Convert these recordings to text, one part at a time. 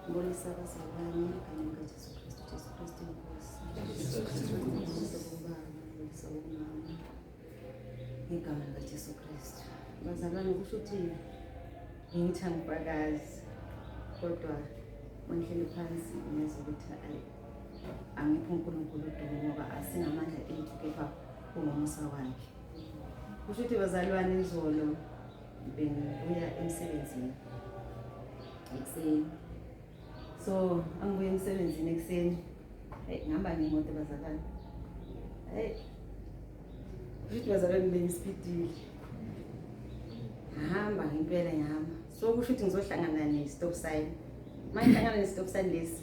Mbonisa abazalwane igama likaJesu Kristu, Jesu Kristu Nkosi. Mbonisa kubaba, mbonisa umama igama likaJesu Kristu. Bazalwane kusho ukuthi ngithi angifakazi kodwa mangihleli phansi ngiyazi ukuthi ayi angiphi uNkulunkulu udumo ngoba asinamandla ethu kepha ungomusa wakhe. Kusho ukuthi bazalwane izolo bengibuya emsebenzini ekuseni so angibuye emsebenzini ekuseni eyi ngihamba ngemoto bazalwane eyi ukuthi bazalwane bengisipidile ngihamba ngempela ngihamba so kusho ukuthi ngizohlangana ne-stop sign uma ngihlangana ne-stop sign lesi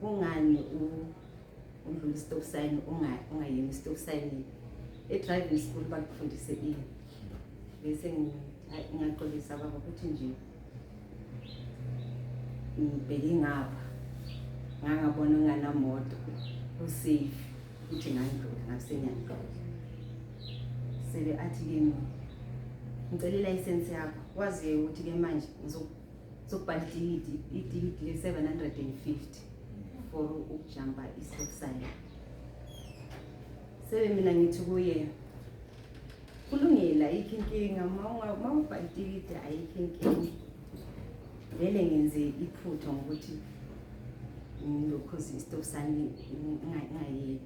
Kungani udlula i-stop sign ungayimi i-stop sign e-driving school bakufundise ini bese ngingaxolisa baba ukuthi nje ngibheke ngapha ngangabona nganamoto usafe ukuthi ngandlula ngasenyandlula sebe athi kimi ngicela ilayisensi yakho waziyo ukuthi-ke manje zokubhala itikiti itikiti le-750 for ukujamba i-stop sign sebe mina ngithi kuye kulungile ayikho inkinga uma ubhala itikiti ayikho inkinga vele ngenze iphutha ngokuthi ngilokhoza i-stop sign ngingayeki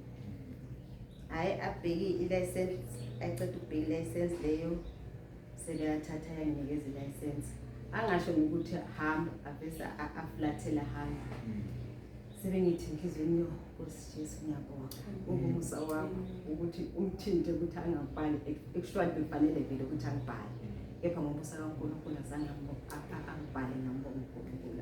hhayi abheki i-license ayiceda ukubheka i-license leyo sekeyathatha yanginikeza ilayisensi angasho ngokuthi hamba avese afulathele hamba sebengithi enhliziyweni yo nkosi jesu ngiyabonga ukumusa wakho ukuthi umthinte ukuthi angabhali ekushwani bekufanele vele ukuthi angibhale kepha ngomusa kankulunkulu azange angibhale ngambonga unkulunkulu